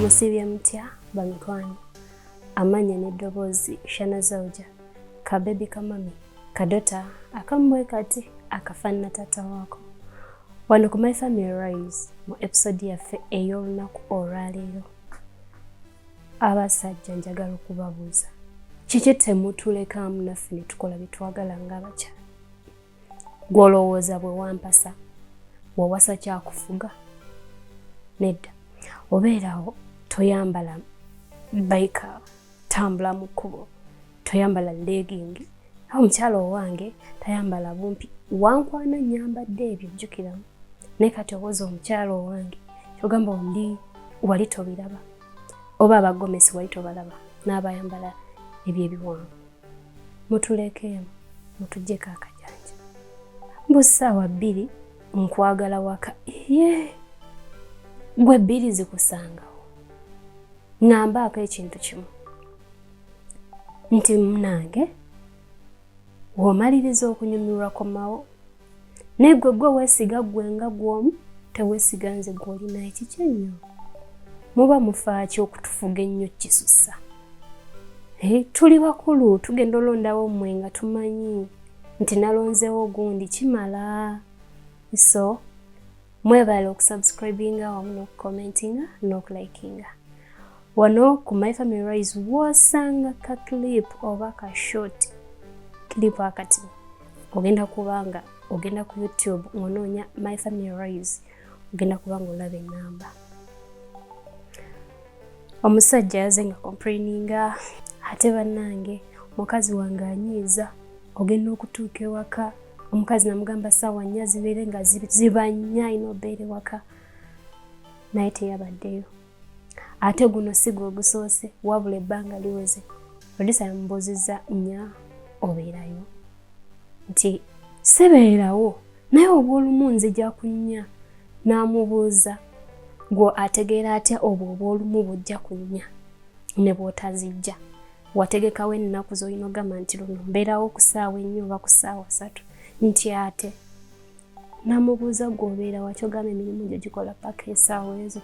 musiibye mutya bamikwano amanya n'eddoboozi shana zauja kabebi kamami kadota akamubwe kati akafanana taata waako wano ku my family rise mu episode yaffe ey'olunaku olwaleero abasajja njagala okubabuuza kiki temutulekamu naffe ne tukola bye twagala ng'abakyala gw'olowooza bwe wampasa wawasa kyakufuga nedda obeerawo toyambala baika tambula mu kkubo toyambala legging awo omukyala owange tayambala bumpi wankwana nyambadde ebyo jjukiramu naye kati owoza omukyala owange kyogamba ondi wali tobiraba oba abagomesi wali tobalaba n'abayambala ebyo ebiwanvu mutulekeemu mutujjeko akajanja mbu ssaawa bbiri nkwagala waka ye gwe bbiri zikusangawo ŋambaako ekintu kimu nti munange womaliriza okunyumirwa komawo naye gwe gwe weesiga gwe nga gwomu teweesiga nze gwolina ekiki ennyo muba mufaaki okutufuga ennyo kisusa eh, tuli bakulu tugenda olondawo mmwe nga tumanyi nti nalonzeewo gundi kimala so mwebale okusubscribinga wamu n'okucommentinga n'okulikinga wano ku my family rise wosanga ka clip oba ka short clip akati ogenda kubanga ogenda ku youtube ngonoonya my family rise ogenda kubanga olaba enamba omusajja yaze nga complaininga ate bannange mukazi wange anyiiza ogenda okutuuka ewaka omukazi namugamba saawa nnya zibeere nga ziba nnya alina obeere waka naye teyabaddeyo ate guno si gwe ogusoose wabula ebbanga liweze produsa yamubuuzizza nnya obeerayo nti sibeerawo naye obwolumu nzija kunnya n'amubuuza gwe ategeera atya obwo obwolumu bujja kunnya ne bwotazijja wategekawo ennaku zolina ogamba nti luno mbeerawo ku saawa ennyo oba ku saawa satu nti ate namubuuza gwe obeera wakyo ogamba emirimu gyo gikola paka esaawa ezo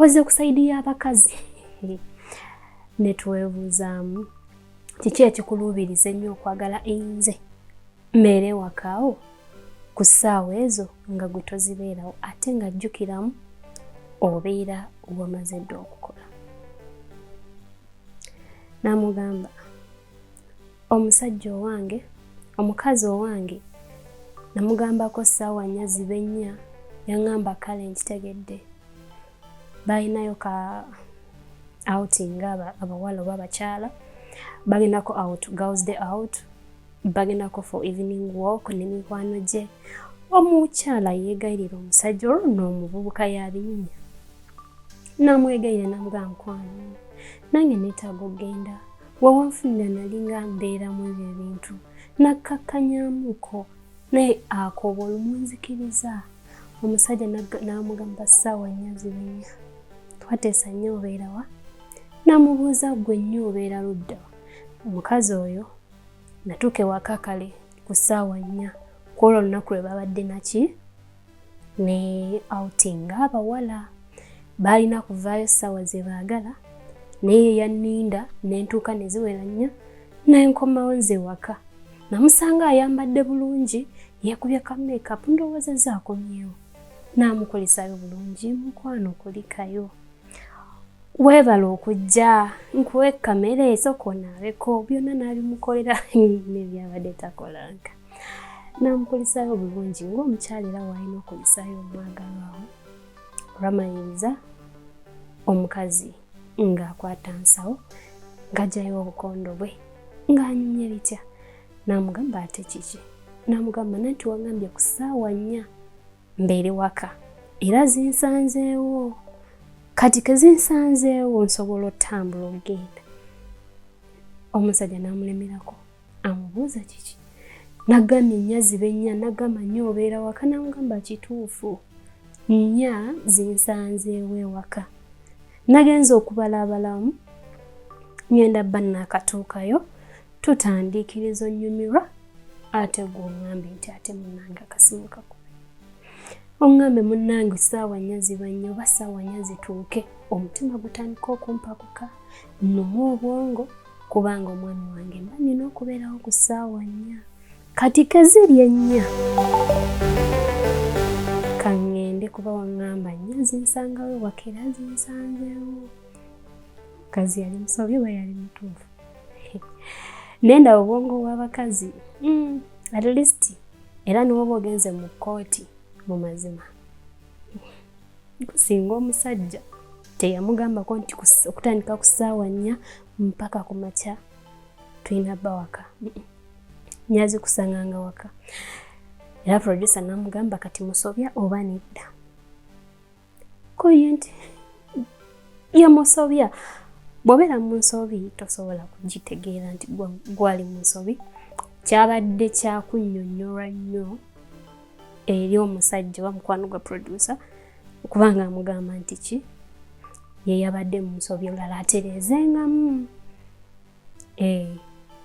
oze ku saidi y'abakazi netwebuuzaamu kiki ekikuluubiriza ennyo okwagala einze mbeere wakaawo ku ssaawa ezo nga gwe tozibeerawo ate nga jjukiramu obeera wamaze dda okukola Namugamba omusajja owange omukazi owange namugambako ssaawa nnya zibe nnya yaŋamba kale nkitegedde balinayo ka outing abawala oba abakyala bagendako out girls day out bagendako for evening walk ne mikwano gye omukyala yeegayirira omusajja olwo noomuvubuka yabinyinya namwegayira namuga nkwano nange netaaga okugenda wawanfunira nalinga mbeeramu ebyo ebintu nakkakkanyamuko naye akooba olumunzikiriza omusajja namugamba ssaawa nnya zibenya twateesa nnyo obeerawa namubuuza gwe nnyo obeera luddawa omukazi oyo natuuka ewaka kale ku ssaawa nnya kwolwo olunaku lwe babadde naki ne outing ng'abawala baalina kuvaayo ssaawa ze baagala naye yanninda ne ntuuka ne ziwera nnyo ne nkomawo nze waka namusanga ayambadde bulungi yeekubye ka makeup ndowooza zaakomyewo naamukolesayo bulungi mukwano kulikayo weebala okujja nkuwe kamere esooka onaabeko byonna naabimukolera nebyabadde takolanga namukulisayo obulungi ng'omukyala era waalina okulisayo omwagalwawo olwamaliriza omukazi ng'akwata nsawo ng'ajjayo obukondo bwe ng'anyumye bitya namugamba ate kiki namugamba nanti wagambye ku ssaawa nnya mbeere waka era zinsanzeewo kati kezinsanzeewo nsobola otambula ogenda omusajja namulemerako amubuuza kiki nagambye nnya zibe nnya nagamba nnya obeera waka namugamba kituufu nnya zinsanzeewo ewaka nagenza okubala abalamu ngenda bba naakatuukayo tutandiikiriza onnyumirwa ate gwe oŋŋambe nti ate munnange akasimu kako oŋŋambe munnange saawa nnya ziba nnyo oba saawa nnya zituuke omutima gutandika okumpakuka nnuma obwongo kubanga omwami wange mba nina okubeerawo ku ssaawa nnya kati kaziri ennya kaŋŋende kuba waŋŋamba nnya zinsangawo wakera zinsanzewo kazi yali musobi oba yali mutuufu nenda obwongo bw'abakazi mm, at least era niwoba ogenze mu kkooti mu mazima singa omusajja teyamugambako nti okutandika ku ssaawa nnya mpaka ku makya tulina bba waka nyazi kusanganga waka era producer namugamba kati musobya oba nedda koye nti yamusobya bwobeera mu nsobi tosobola kugitegeera nti gwali mu nsobi kyabadde kyakunyonyolwa nnyo eri omusajja oba mukwano gwa producer okubanga amugamba nti ki yeyabadde mu nsobi olala atereezengamu eh,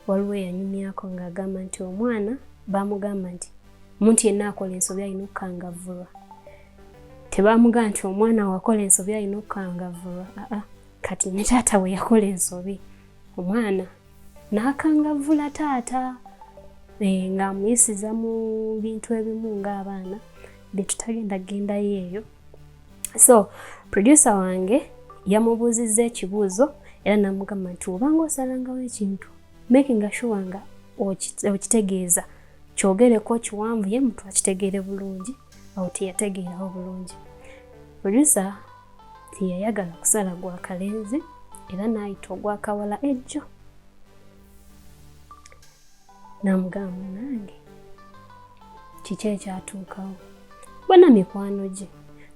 waliwo eyanyumyako ng'agamba nti omwana baamugamba nti omuntu yenna akola ensobi alina okukangavvulwa tebaamugamba nti omwana wakola ensobi alina okukangavvulwa aa kati ne taata we yakola ensobi omwana n'akangavvula taata eh, ng'amuyisiza mu bintu ebimu ng'abaana bye tutagenda gendayo eyo so producer wange yamubuuzizza ekibuuzo era namugamba nti obanga osalangawo ekintu makinga shuwa nga okitegeeza kyogereko kiwanvu ye mutu akitegeere bulungi awo teyategeerawo bulungi producer teyayagala kusala gwa kalenzi era n'ayita ogwakawala ejjo namugamba nange kiki ekyatuukawo bona mikwano gye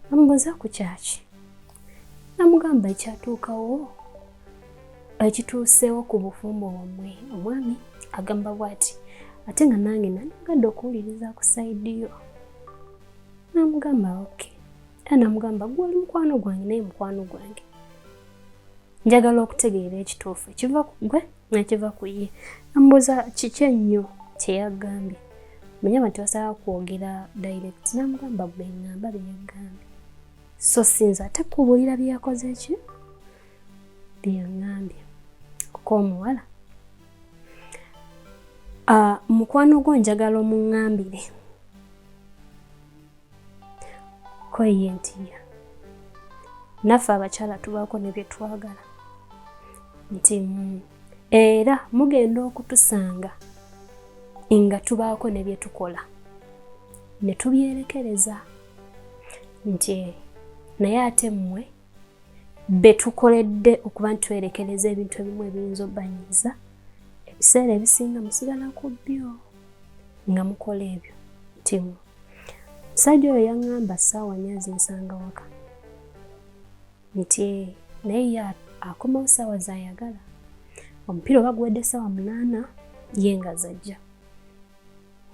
namubuuza ku kyaki namugamba ekyatuukawo ekituuseewo ku bufumbo bwammwe omwami agamba bwati ate nga nange nandigadde okuwuliriza ku saidi yo namugamba oke era namugamba gwe oli mukwano gwange naye mukwano gwange njagala okutegeera ekituufu ekiva ku gwe nakiva ku ye namubuuza kiki ennyo kyeyagambye munyama tebasaba kwogera direct namugamba bengamba beyagambye so sinza ate kubuulira byeyakoze ki byeyangambye kuko omuwala ah, mukwano gwo njagala omungambire koye ntiya naffe abakyala tubaako ne bye twagala nti mm, era mugenda okutusanga nga tubaako ne bye tukola ne tubyerekereza nti naye ate mmwe betukoledde okuba nti twerekereza ebintu ebimu ebiyinza obanyiza ebiseera ebisinga musigala ku byo nga mukola ebyo timu musajja oyo yaŋŋamba ssaawa nyo azinsanga waka nti eh, naye ye akomawo ssaawa zayagala omupiira oba guwedde ssaawa munaana ye nga zajja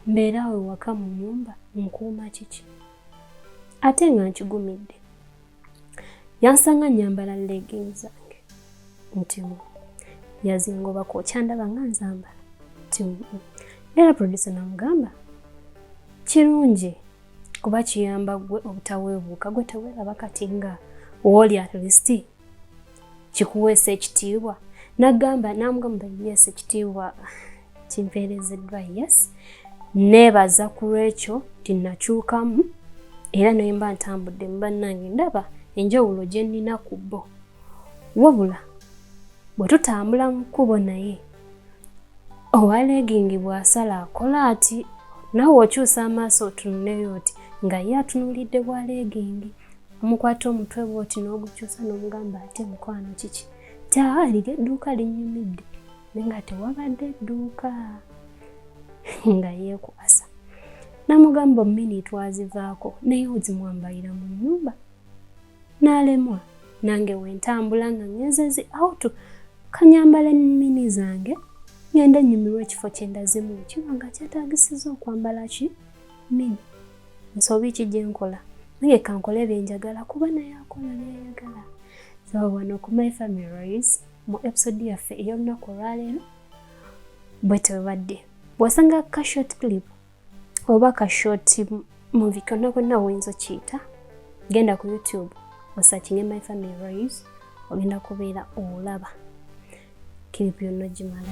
mbeera awo ewaka mu nyumba nkuuma kiki ate nga nkigumidde yansanga nyambala legging zange ntimu yazingoba kwokyandaba nga nzambala ntimu era produsa namugamba kirungi kuba kiyamba gwe obutaweebuuka gwe teweeraba kati nga wooli at least kikuweesa ekitiibwa nagamba namugamba yes ekitiibwa kimpeerezeddwa yes neebaza ku lwekyo nti nakyukamu era naye mba ntambudde mu bannange ndaba enjawulo gye nnina ku bo wabula bwe tutambula mu kkubo naye owa leegingi bw'asala akola ati nawe okyusa amaaso otunuleyo oti nga ye atunulidde bwa leegingi omukwata omutwe bwoti n'ogukyusa n'omugamba ate mukwano kiki taali lyedduuka linnyumidde nga tewabadde dduuka nga yeekuasa namugamba omumini twazivaako naye ozimwambalira mu nyumba n'alemwa nange wentambula nga ngezezi autu kanyambala mini zange ngende nyumirwa ekifo kyendazimu kiba nga kyetagisiza okwambala ki mini nsobi ki gyenkola naye kankole byenjagala kuba naye akola byayagala so wano ku my family mu episode yaffe ey'olunaku olwaleero bwe tebadde bw'osanga ka short clip oba ka short movie konna konna oyinza okiyita genda ku youtube osakinge my family roys ogenda kubeera olaba kiripu yonna ogimala